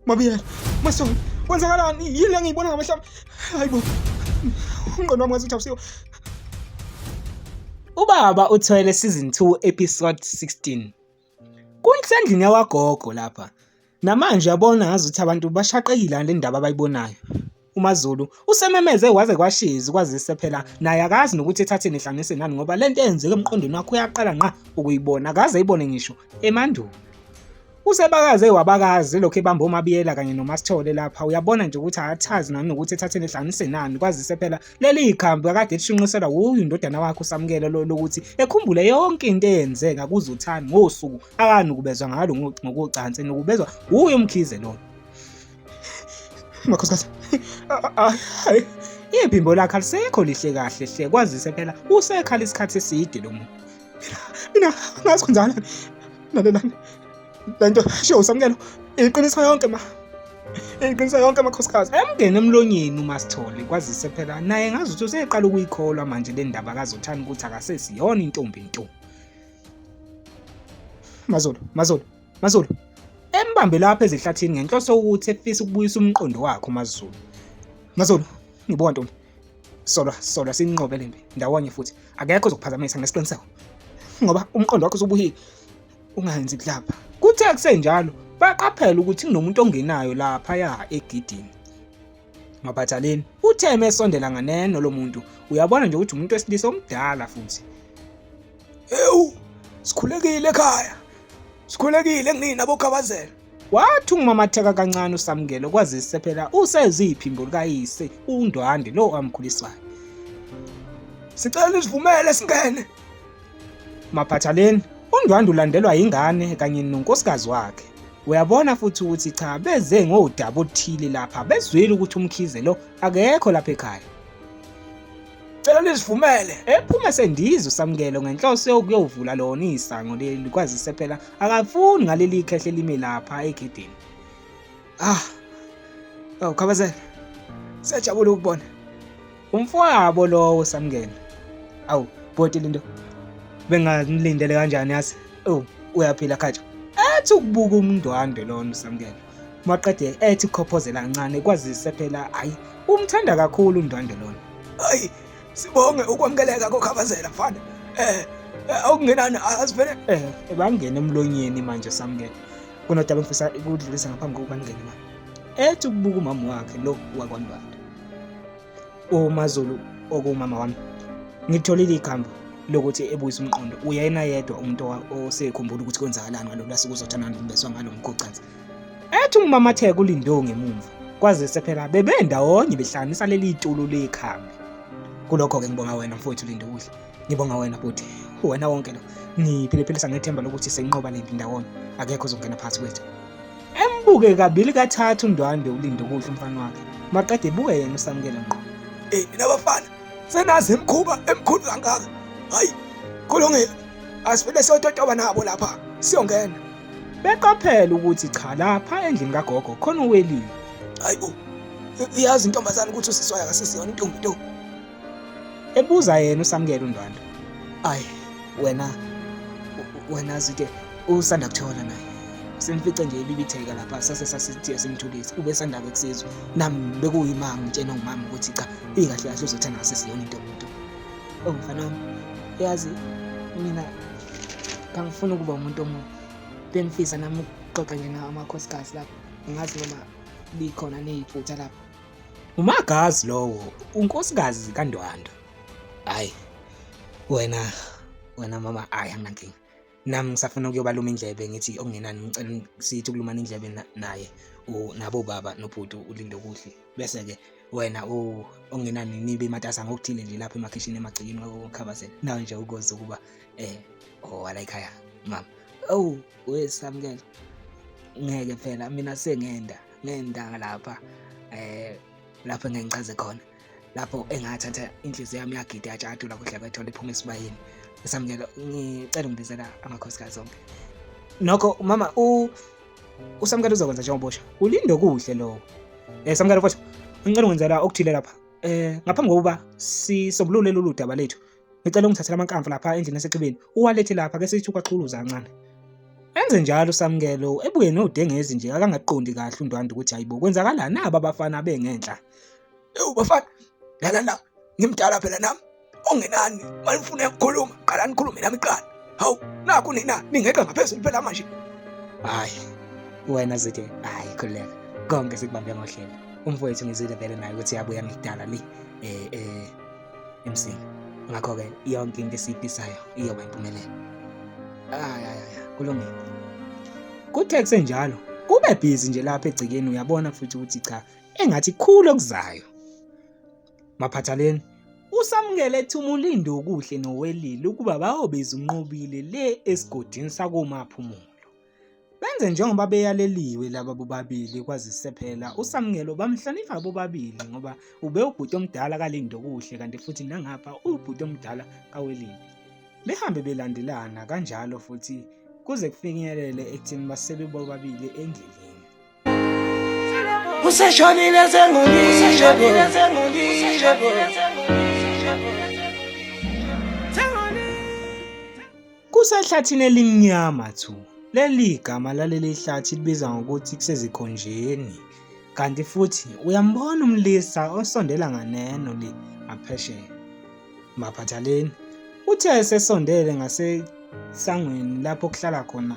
Mabiyela, Masondo, kwenzakalani? Yini le ngiyibona ngamehlo ami? Hayibo. Umqondo wami ngazuthi awusiwo. Ubaba uthwele season 2 episode 16. Kunsendlini yawagogo lapha. Namanje yabona ngazuthi abantu bashaqekile ngale ndaba abayibonayo. uMaZulu usememeze kwaze kwashiza kwazise phela naye akazi nokuthi ethatheni ihlanganise nani ngoba lento eyenzeke emqondweni wakho uyaqala ngqa ukuyibona akaze ayibone ngisho emandulo usebakaze wabakazi lokho ebamba omabiyela kanye nomasithole lapha uyabona nje ukuthi akathazi nani nokuthi ethatheni ehlanganise nani kwazise phela leli ikhambi akade lishunqiselwa wuyo indodana wakhe usamukele lo lokuthi ekhumbule yonke into eyenzeka kuzothani ngosuku akanukubezwa ngalo ngokocansi nokubezwa wuyo umkhize lona Makhosikazi. Hayi. Ibhimbo lakhe alisekho lihle kahle hle kwazise phela usekhala isikhathi eside lo muntu. Mina ngazi kunjalo. Lalelani. Lento show samkelo. Iqiniso yonke ma. Iqiniso yonke amakhosikazi. Emngene emlonyeni uma sithole kwazise phela naye ngazi ukuthi useqala ukuyikholwa manje le ndaba kazothani ukuthi akasesiyona intombi ntombi. Mazolo, Mazolo, MaZulu embambe lapha ezihlathini ngenhloso ukuthi efisa ukubuyisa umqondo wakho MaZulu MaZulu ngibona ntombi solwa solwa sinqobe lempi ndawonye futhi akekho ozokuphazamisa ngesiqiniseko ngoba umqondo wakho usubuhile ungayenzi kulapha kuthe kusenjalo baqaphela ukuthi kunomuntu ongenayo lapha ya egidini maphathaleni uthe mesondela nganeno lo muntu uyabona nje ukuthi umuntu wesilisa omdala futhi Ewu, sikhulekile ekhaya. Sikhulekile kunina bokhabazela. Wathi ungimamatheka kancane uSamkelo kwazise phela useziphi imbulu kayise uNdwande lo amkhulisayo. Sicela usivumele singene. Maphathaleni, uNdwande ulandelwa yingane kanye nonkosikazi wakhe. Uyabona futhi ukuthi cha beze ngodaba oluthile lapha bezwile ukuthi umkhize lo akekho lapha ekhaya. Cela nizivumele. Ephume sendiza uSamkelo ngenhloso yokuyovula lona isango leli kwazise phela akafuni ngaleli khehle limi lapha egedini. Ah. Oh, khabazela. Sejabula ukubona. Umfowabo lowo Samkelo. Awu, bhoti linto. Benganilindele kanjani yase? Oh, uyaphila khathi. Athi ukubuka umndwandwe lona uSamkelo. maqede ethi khophozela kancane kwazise phela hayi umthanda kakhulu undwandwe lona hayi sibonge ukwamukeleka kokhabazela mfana eh, eh awungenani asivele eh bangene emlonyeni manje samukele kunodaba ngifisa ukudlulisa ngaphambi kokuba ngingene manje ethi ukubuka umama wakhe lo wakwandwandwe uMaZulu okumama wami ngitholile ikhambo lokuthi ebuyise umqondo uyena yedwa umuntu osekhumbula ukuthi kwenzakalani ngalolu lasuku uzothandana nokubeswa ngalo mgogcansi ethi umamatheka ulindewo ngemumva kwazise phela bebendawonye behlanganisa leli tulo lekhambi kulokho-ke ngibonga wena mfowethu lindukudla Ngibonga wena bhuti, wena wonke lo ngiphiliphilisa ngethemba lokuthi senqoba lempi ndawonye, akekho ozongena phakathi kwethu. Embuke kabili kathathu uNdwandwe ulinde ukudla umfana wakhe, maqede ebuke yena uSamkele ngqo. Eyi mina bafana senazi imkhuba emkhulu kangaka, hayi kulungile, asivele siyototoba nabo lapha siyongena. Beqaphela ukuthi cha lapha endlini kagogo khona uwelile. Hayi bo, iyazi intombazane ukuthi usiswayo akasisiyona intombi ntombi. ebuza yena usamukela undwandwe ayi wena wena zide usanda kuthola naye simfice nje ibibitheka lapha sase sasithiye simthulise ubesandake kusizwa nami bekuyimanga ngitshena ngumama ukuthi cha ikahle kahle uzothanda ngasesiyona into yomuntu oh mfana wami yazi mina kangifuni ukuba umuntu omubi bengifisa nami ukuxoxa nje nawo amakhosikazi lapho ngazi noma likhona neyiphutha lapho Umagazi lowo unkosikazi kaNdwanda. Hayi. Wena wena mama ayi anginankinga. Nami ngisafuna ukuyobaluma indlebe ngithi okungenani ngicela sithi ukulumana indlebe naye nabo baba nobhuti ulinde kuhle. Bese ke wena ongenani nibe matasa ngokuthile nje lapha emakhishini emagcikini ngokukhabazela. Nawe nje ukoze ukuba eh owala oh, ekhaya mama. Awu wesamukela. Ngeke phela mina sengenda. ngentanga lapha eh lapho engengichaze khona lapho engathatha inhliziyo yami yagida yajatula kuhle kwethola iphuma esibayeni esamukelo ngicela ungibizela amakhosikazi onke nokho mama u usamukelo uzokwenza njengobosha ulinde okuhle lokho eh samukelo futhi ngicela ungenzela okuthile lapha eh ngaphambi kokuba sisombulule lolu daba lethu Ngicela ungithathele amankamvu lapha endlini esexhibeni, uwalethe lapha ke sithi ukwaqhuluza kancane. Enze njalo uSamkelo, ebuye nodengezi nje akangaqondi kahle uNdwanda ukuthi hayibo kwenzakalani naba abafana bengenhla. Ewu bafana, lana la, ngimdala phela nami. Ongenani, malifuna ukukhuluma, qala nikhulume nami qala. Hawu, nakho nina ningeqa ngaphezulu phela manje. Hayi, wena zithe, hayi khuleka. Konke sikubambe ngohlelo. Umfowethu ngizile vele naye ukuthi yabuya ngidala le. Eh eh MC ngakho-ke yonke into esiyifisayo iyoba impumelelo hayi hayi hayi kulungile kuthe kusenjalo kube bhizi nje lapha egcekeni uyabona futhi ukuthi cha engathi khulu okuzayo maphathaleni usamukele ethumula indukuhle nowelile ukuba bayobiza unqobile le esigodini sakomaphumulo Benze njengoba beyaleliwe laba bobabili kwazise phela uSamkelo bamhlonipha bobabili ngoba ube ubhuti omdala kalindo kuhle kanti futhi nangapha ubhuti omdala kawelindi. Behambe belandelana kanjalo futhi kuze kufinyelele ekutheni basebe bobabili endleleni. useshonile kusehlathini elimnyama thu leli igama laleli hlathi libiza ngokuthi kusezikhonjeni kanti futhi uyambona umlisa osondela nganeno le ngaphesheya maphathaleni uthe esesondele ngasesangweni lapho kuhlala khona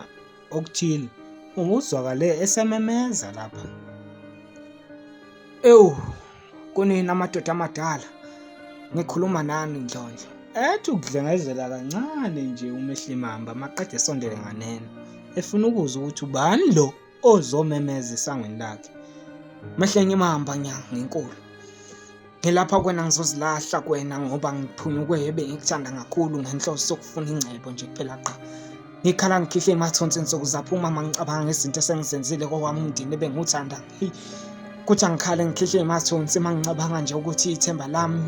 okuthile unguzwakale esememeza lapha ewu kunina amadoda amadala ngikhuluma nani ndlondlo ethi ukudlengezela kancane nje umehlimamba maqede esondele nganeno efuna ukuzwa ukuthi ubani lo ozomemeza esangweni lakhe mehlenge imamba nya ngenkulu Ngilapha kwena ngizozilahla kwena ngoba ngiphunyukwe yebe ngikuthanda kakhulu ngenhloso sokufuna ingcebo nje kuphela qha. Ngikhala ngikhihle emathonsi nsuku zaphuma mangicabanga ngezinto esengizenzile kokwami umndeni ebengiwuthanda. Kuthi angikhale ngikhihle emathonsi mangicabanga nje ukuthi ithemba lami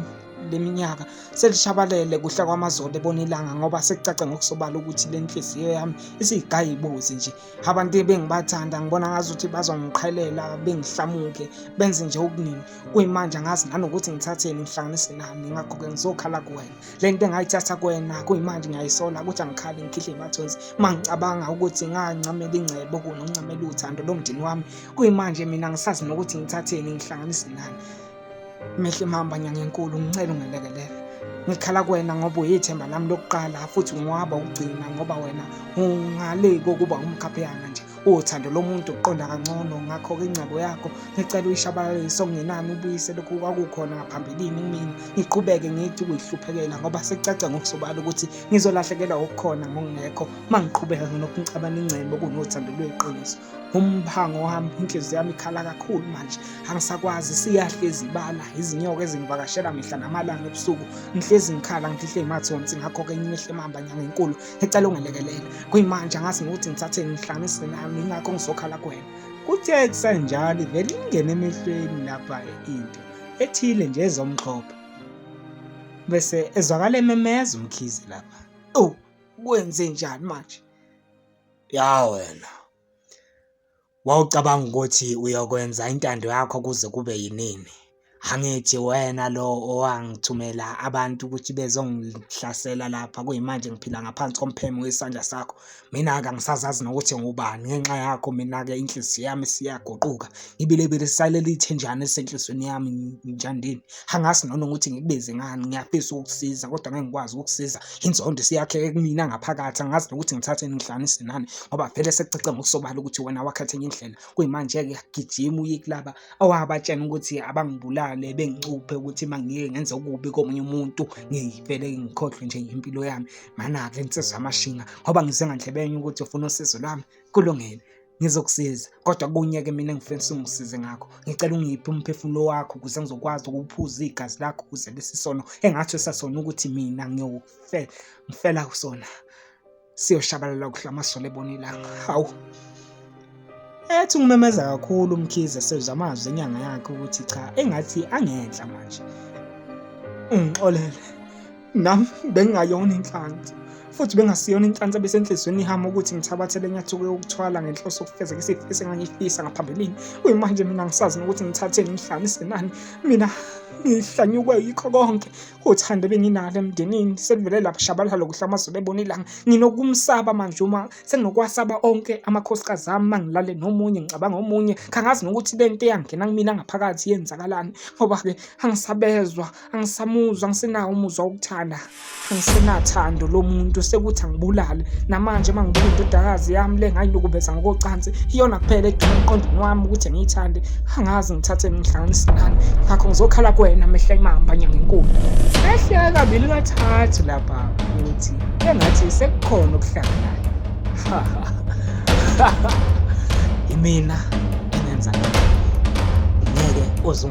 leminyaka selishabalele kuhla kwamazolo ebona ilanga ngoba sekucace ngokusobala ukuthi le nhliziyo yami isiyigayibuzi nje abantu ebengibathanda ngibona ngazuthi bazongiqhelela bengihlamuke benze nje okuningi kuyimanje angazi nanokuthi ngithatheni ngihlanganise nani ngakho-ke ngizokhala kuwena le nto engayithatha kuwena kuyimanje ngiyayisola ukuthi angikhali ngikhihle imathonsi uma ngicabanga ukuthi ngancamela ingcebo kunoncamela uthando lomndeni wami kuyimanje mina ngisazi nokuthi ngithatheni ngihlanganise nani Mihle mhamba nyangenkulu ngicela ungelekelele. Ngikhala kuwena ngoba uyithemba lami lokuqala futhi ngiwaba ukugcina ngoba wena ungale kokuba umkhapheyana nje. Uthando lomuntu uqonda kangcono ngakho-ke ingcebo yakho ngicela uyishabalalise okungenani ubuyise lokhu kwakukhona ngaphambilini kumina. Ngiqhubeke ngithi ukuyihluphekela ngoba sekucaca ngokusobala ukuthi ngizolahlekelwa okukhona ngokungekho uma ngiqhubeka nginokuncabana ingcebo kunothando lweqiniso. umphango wami inhliziyo yami ikhala kakhulu manje angisakwazi siyahlezi ibala izinyoka ezingivakashela mihla namalanga ebusuku ngihlezi ngikhala ngihle imathonsi ngakho-ke ngimehle mamba nyanga enkulu ecela ungelekelele kuyimanje angazi ngokuthi ngithathe ngihlanganise nami ingakho ngizokhala kuwena kuthe kusenjalo ivele ingene emehlweni lapha into ethile nje ezomxhopha bese ezwakala ememeza umkhize lapha owu kwenze njani manje Ya wena. Wawucabanga ukuthi uyokwenza intando yakho kuze kube yinini. Angithi wena lo owangithumela abantu ukuthi bezongihlasela lapha kuyimanje ngiphila ngaphansi kompheme wesandla sakho. Mina-ke angisazazi nokuthi ngubani ngenxa yakho mina-ke inhliziyo yami isiyaguquka. Ibilebile isalele ithenjana elisenhlizweni yami njandini. Angazi noma ukuthi ngikubize ngani, ngiyafisa ukukusiza kodwa ngeke ngikwazi ukukusiza. Inzondo isiyakheke kumina ngaphakathi, angazi nokuthi ngithatheni ngihlanganise nani ngoba vele sekucace ngokusobala ukuthi wena wakhetha enye indlela. Kuyimanje-ke gijima uye kulaba owabatshena ukuthi abangibulale bengicuphe ukuthi uma ngike ngenze okubi komunye umuntu ngivele ngikhohlwe nje impilo yami. Mana-ke nsizwa yamashinga ngoba ngize ngandlebenye ukuthi ufuna usizo lwami, kulungile. ngizokusiza kodwa kunye-ke mina ngifisa ungisize ngakho ngicela ungiphe umphefumulo wakho ukuze ngizokwazi ukuphuza igazi lakho ukuze lesi sono engathi esasona ukuthi mina ngiyokufela ngifela kusona siyoshabalala kuhle amasole ebona ilanga hawu ethi ngimemeza kakhulu umkhize sezwa amazwi enyanga yakhe ukuthi cha engathi angenhla manje ungixolele nam bengingayona inhlanzi futhi bengasiyona inhlansi ebesenhliziyweni ihama ukuthi ngithabathele inyathuko yokuthwala ngenhloso yokufezeka isifiso engangifisa ngaphambilini kuyimanje mina ngisazi nokuthi ngithatheni ngihlanise nani mina ngihlanyukwe yikho konke uthando benginalo emndenini selivele lapha shabalala lokuhla amazulu ebona ilanga nginokumsaba manje uma senginokwasaba onke amakhosikazi ami uma ngilale nomunye ngicabanga omunye kangazi nokuthi le nto eyangena kumina ngaphakathi yenzakalani ngoba-ke angisabezwa angisamuzwa angisenawo umuzwa wokuthanda angisenathando lo muntu sekuthi angibulale namanje uma ngibuka indodakazi yami le ngayinukubeza ngokocansi iyona kuphela eduma emqondweni wami ukuthi ngiyithande angazi ngithathe ngihlanganise nani ngakho ngizokhala kuwena mehla imamba nyangenkulu ehle kabili kathathu lapha ukuthi engathi sekukhona okuhlanganayo imina engenza ngeke uzung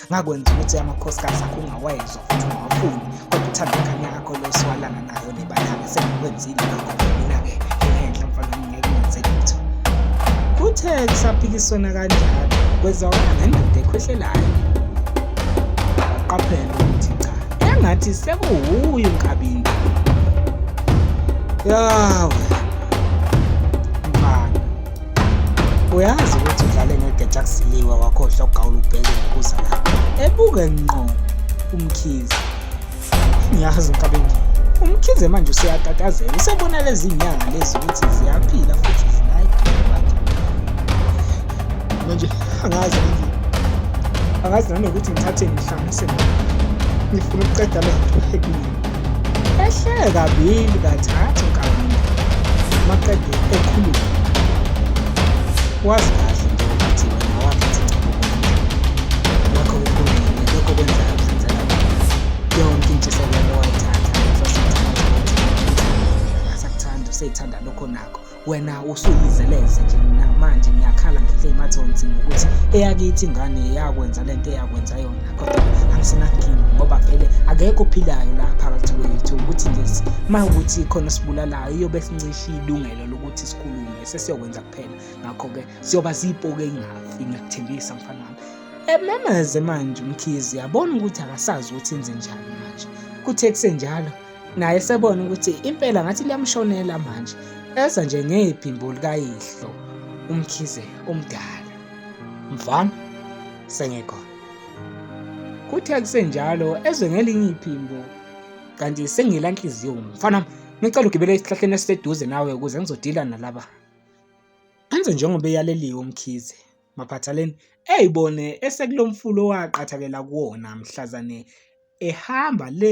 ngakwenza ukuthi amakhosikazi akho ungawayezwa futhi ungawafuni kodwa uthanda ingane yakho le siwalana nayo nebayake sengikwenzile lokho mina-ke ngihenhla mfana ngingeke ngenze lutho kuthe kusaphikiswana kanjalo kwezwakala ngendoda ekhwehlelayo waqaphela ukuthi cha engathi sekuwuye unkabinda yawe uyazi ukuthi udlale ngegeja kusiliwa wakhohlwa ugawula ubheke ngokuza lapho ebuke nqo umkhize ngiyazi unkabengile umkhize manje useyatatazela usebona lezi nyanga lezi ukuthi ziyaphila futhi zinayiphila manje angazi nje angazi nanokuthi ngithathe ngihlanganise ngifuna ukuqeda lento ekuyini Ehle kabili kathathu kabili maqede ekhuluma. Wazi kahle nje ukuthi wena wakhetha ingcebo wakho ukhulumile lokho kwenza abenzela yonke intshisekelo wayithatha ngeso sithathu ukuthi akasakuthanda useyithanda lokho nakho wena usuyizeleze nje mina manje ngiyakhala ngihle imathonsi ngokuthi eyakithi ingane yakwenza le nto eyakwenza yona kodwa angisenakinga ngoba vele akekho ophilayo la phakathi kwethu ukuthi nje ma ukuthi khona sibulalayo iyobe sincishe ilungelo lokuthi sikhulume sesiyokwenza kuphela ngakho-ke siyoba ziyipoke ingafi ngiyakuthembisa mfana wami ememeze manje umkhizi yabona ukuthi akasazi ukuthi enze njani manje kuthe kusenjalo naye sebona ukuthi impela ngathi liyamshonela manje eza nje ngephimbo likayihlo umkhize omdala mfana sengekhona kuthe kusenjalo ezwe ngelinye iphimbo kanti sengila nhliziyo mfana ngicela ugibele esihlahleni esiseduze nawe ukuze ngizodila nalaba enze njengoba eyaleliwe umkhize maphathaleni eyibone esekulomfulo waqathakela kuwona mhlazane ehamba le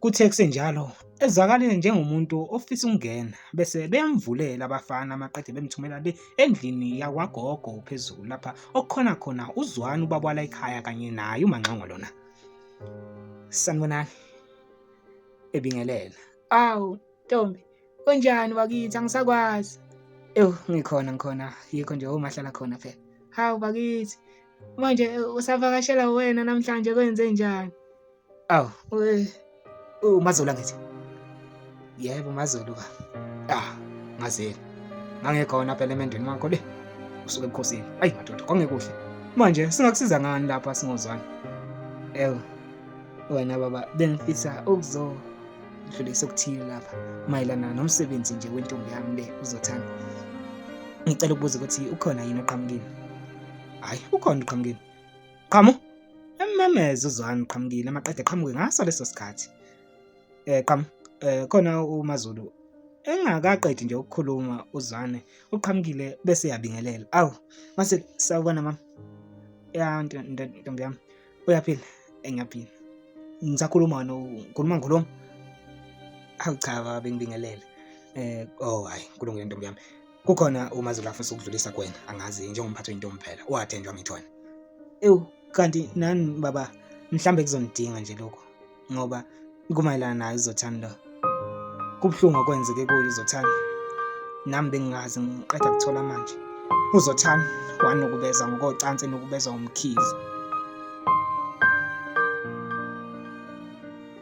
Kuthe kusenjalo ezakalile njengomuntu ofisa ukungena bese beyamvulela abafana amaqede bemthumela le endlini yakwagogo phezulu lapha okukhona khona uzwani ubabwala ekhaya kanye naye umanxongo lona sanibonani ebingelela awu ntombi unjani wakithi angisakwazi ewu ngikhona ngikhona yikho nje omahlala khona phela hawu bakithi manje usavakashela wena namhlanje kwenze njani Aw, uMazolo ngithi. Yebo uMazolo ka. Ah, ngazeli. Ngangekhona phela emendweni wakho le. Usuke ebukhosini. Ayi madoda, kwangekuhle. Manje singakusiza ngani lapha singozwana? Ew. Wena baba bengifisa ukuzo dlulisa okuthile lapha mayelana nomsebenzi nje wentombi yami le uzothanda. Ngicela ukubuza ukuthi ukhona yini oqhamukile? Hayi, ukhona uqhamukile. Qhamu emmemeza uzwani qhamukile amaqede qhamuke ngaso leso sikhathi. Eh qhamu eh khona uMaZulu engakaqedi nje ukukhuluma uzwane uqhamukile bese yabingelela. Awu mase sawubona mama. Ya ntombi yami uyaphila engiyaphila. Ngisakhuluma no ngikhuluma ngikhuluma. Awu cha baba bengibingelele. Eh oh hayi kulungile ntombi yami. Kukhona uMaZulu afisa ukudlulisa kuwena, angazi njengomphathi wentombi phela, uwathenjwa ngithona. Ewu, kanti nani baba, mhlambe kuzonidinga nje lokho ngoba kumayelana nayo uZothani lo. Kubuhlungu okwenzeke kuyo uZothani. Nami bengingazi ngiqeda kuthola manje. UZothani wanukubeza ngokocansi enukubezwa umkhize.